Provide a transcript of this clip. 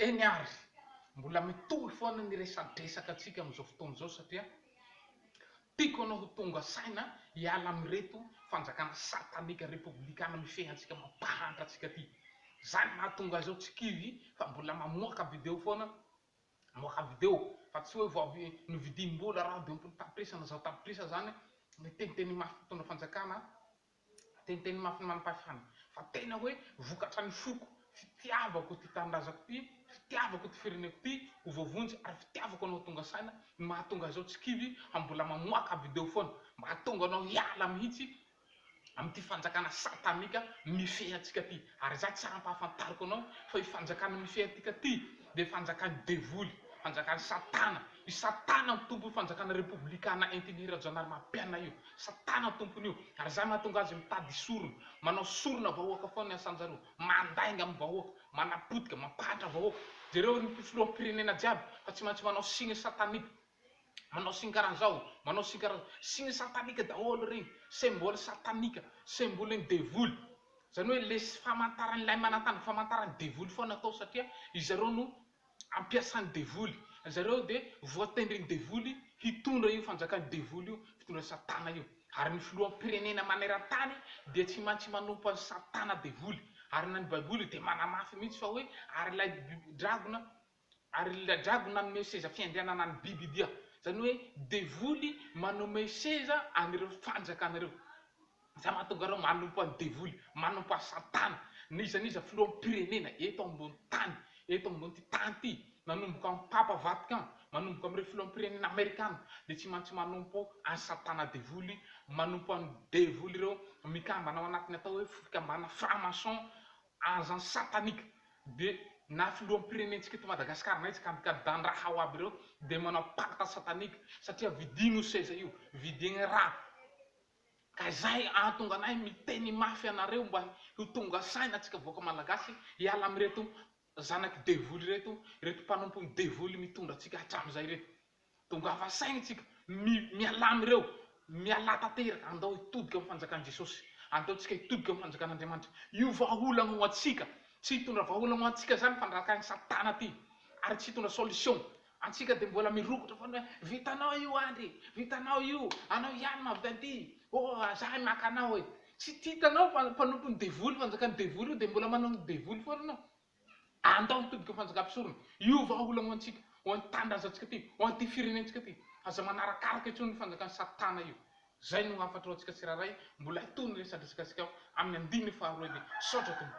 Eny ary, mbola mitohy foana ny resadresaka antsika amin'izao fotoana izao satria tiako ianao ho tonga saina hiala amin'ireto fanjakana satanika repoblikana mifehy antsika mampahantra antsika ity. Izany no mahatonga ahy izao tsy kivy fa mbola mamoaka video foana, mamoaka video fa tsy hoe vao avy novidiam-bola radio am-polo tapitrisa na zato tapitrisa izany, miteniteny mafy mpitondra fanjakana Teniteny mafy ny manampahefana fa tena hoe vokatra ny foko, fitiavako ity tanindrazako ity, fitiavako ity fireneko ity ho voavonjy ary fitiavako anao tonga saina no mahatonga izao tsy kivy fa mbola mamoaka video foana mba hahatonga anao hiala mihitsy amin'ity fanjakana satanika mifehy antsika ity ary za tsy ampahafantariko anao fa io fanjakana mifehy antika ity dia fanjakan'ny devoly, fanjakan'i satana, i satana no tompo io fanjakana repoblikanina entin'i Rajaonarimampianina io. Satana tompony io ary izay mahatonga azy mitady sorona, manao sorona vahoaka foana ny asan zareo, mandainga amin'ny vahoaka, manapotika, mampahatra vahoaka, jereo ry filoha pirenena jiaby fa tsy maintsy manao signe satanique, manao signe karaha zao, manao signe karaha zao, signe satanique daholo regny, symbole satanique, symbole ny devoly, zany hoe le famantaran'ilay manantany, famantaran'ny devoly foana atao satria izareo no ampiasan'ny devoly. Ry zareo dia voatendrin'ny devoly hitondra io fanjakan'ny devoly io, fitondran'i Satana io. Ary ny filoham-pirenena maneran-tany dia tsy maintsy manompo an'i Satana devoly. Ary na ny Baiboly dia manamafy mihitsy fa hoe, Ary ilay dragona, ary ilay dragona nanome seza fiandrianana an'i bibidia. Izany hoe devoly manome seza an'ireo fanjakanareo. Izay mahatonga anao manompo an'i devoly, manompo an'i satana, na iza na iza filoham-pirenena eto ambony tany, eto ambon'ity tany ity, nanomboka amin'ny papa Vatican, manomboka amin'ireo filoham-pirenena amerikana, dia tsy maintsy manompo an'i satana devoly, manompo an'i devoly ireo mikambana ao anatin'ny atao hoe fikambanana franc maçon, agents sataniques, dia na filoham-pirenentsika eto Madagasikara, na iza ka kadan-draha ao aby ireo dia manao pacte satanique, satria vidiny io seza io, vidiny raha, Ka izay ahatonga anay miteny mafy anareo mba ho tonga saina antsika vahoaka malagasy hiala amin'ireto zanak'i devoly ireto, ireto mpanompon'i devoly mitondra antsika hatramin'izay ireto. Tongava saina isika, mialà amin'ireo, mialà tanteraka, andao hitodika amin'ny fanjakan'i Jesosy, andao tsika hitodika amin'ny fanjakan'Andriamanitra. Io vahaolana ho antsika, tsy hitondra vahaolana ho antsika izany fandrakain'i satana ity ary tsy hitondra solution Antsika dia mbola mirokotra foana hoe vitanao io Andry e, vitanao io, anao ihany no avy taty, oh za e maka anao e. Tsy tia hitanao fa mpanompon'ny devoly, fanjakan'ny devoly io dia mbola manao ny devoly foana ianao. Andao hitodika ho fanjakam-pisorona, io vahaolana ho antsika, ho an'ny tanindrazantsika ity, ho an'ity firenentsika ity. Aza manarakaraka intsony io fanjakan'i satana io. Izay no hahafantarantsika tsirairay, mbola hitohy ny resadresakantsika amin'ny andininy faharoa ity. Misaotra Tompo.